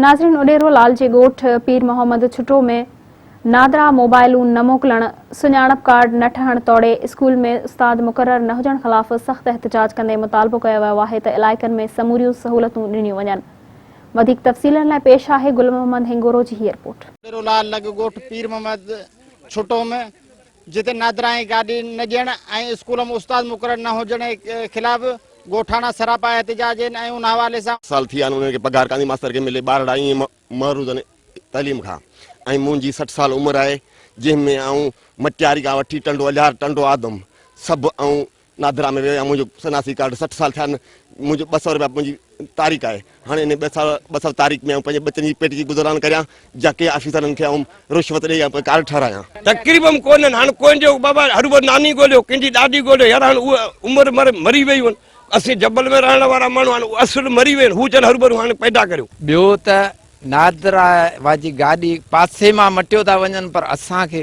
ناظرين اڏيرو لال جي ڳوٺ پير محمد ڇٽو ۾ نادرا موبائلون نه موڪلڻ، سڃاڻپ ڪارڊ نه ٺهڻ توڙي اسڪول ۾ استاد مقرر نه هجڻ خلاف سخت احتجاج ڪندي مطالبو ڪيو ويو آهي ته علائقن ۾ سموريون سهولتون ڏنيون وڃن. وڌيڪ تفصيلن لاء پيش آهي گل محمد هنگورو جي هي رپورٽ. اڏيرو لال لڳ ڳوٺ پير محمد ڇٽو ۾ جتي نادرائين گاڏي نه ڏيڻ ۽ اسڪول ۾ استاد مقرر نه هجڻ خلاف ڳوٺاڻا سراپا احتجاج هين ۽ ان حوالي سان. سال ٿي ويا آهن انهن کي پگهار ڪانڌي ماستر کي ملي ٻارڙا ائين محروض آهن تعليم کان ۽ منهنجي سٺ سال عمر آهي جنهن ۾ آئون مٽياري کان وٺي ٽنڊو الهيار ٽنڊو آدم سڀ آئون نادرا ۾ ويو آهيان منهنجو سناسي ڪارڊ سٺ سال ٿيا آهن منهنجو ٻه سؤ رپيا منهنجي تارڪ آهي هاڻي انهي ٻه سال ٻه سال تارڪ ۾ آئون پنهنجي ٻچن جي پيٽ جي گذران ڪريان جا ڪنهن آفيسرن کي آئون رشوت ڏئي يا ڪارڊ ٺهرايان. تقريبم ڪونهن هاڻ ڪوئن جو بابا هروڀرو ناني ڳوليو ڪنهن جي ڏاڏي ڳوليو يار هاڻ اهي عمر مر مري ويون آهن اسين جبل ۾ رهڻ وارا ماڻهو هاڻ اهي اصل مري ويون هو چون هروڀرو هاڻ پيدا ڪريو. ٻيو ته نادرا واجي گاڏي پاسي مان مٽيو ٿا وڃن پر اسان کي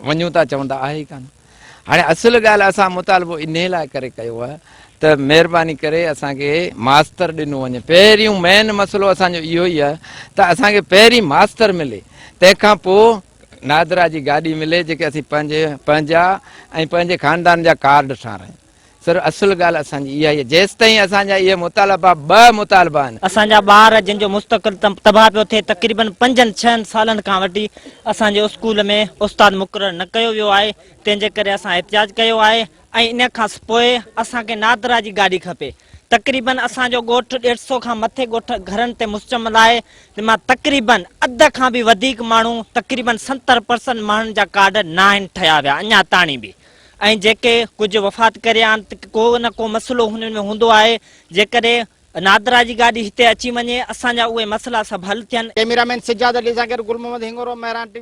وڃون ٿا چون ته آهي ئي ڪانه. هاڻي اصل ڳالهه اسان مطالبو انهي لاء ڪري ڪيو آهي ته مهرباني ڪري اسان کي ماستر ڏنو وڃي پهريون مين مسئلو اسان جو اهو ئي آهي ته اسان کي پهرين ماستر ملي تنهن کان پوء نادرا جي گاڏي ملي جيڪي اسين پنهنجي پنهنجا ۽ پنهنجي خاندان جا ڪارڊ ٺارايون. سر اصل ڳالهه اسان جي اها هي جيستائين اسان جا اهي مطالبا ٻه مطالبا آهن. اسان جا ٻار جن جو مستقل تباهه پيو ٿئي تقريبن پنجن ڇهن سالن کان وٺي اسان جي اسڪول ۾ استاد مقرر نه ڪيو ويو آهي تنهن جي ڪري اسان احتجاج ڪيو آهي ۽ ان کان پوء اسان کي نادرا جي گاڏي کپي تقريبن اسان جو ڳوٺ ڏيڍ سو کان مٿي ڳوٺ گهرن تي مشتمل آهي جن مان تقريبن اڌ کان به وڌيڪ ماڻهو تقريبن ستر پرسنٽ ماڻهن جا ڪارڊ ناهن ٺهيا ويا اڃا تاڻي به ۽ جيڪي ڪجهه وفات ڪريا آهن ته ڪو نه ڪو مسئلو هنن ۾ هوندو آهي جيڪڏهن نادرا جي گاڏي هتي اچي وڃي اسان جا اهي مسئلا سڀ حل ٿين. ڪيميرا مين سجاد علي سان گڏ گل محمد هنڱورو مهراڻ ٽي وي.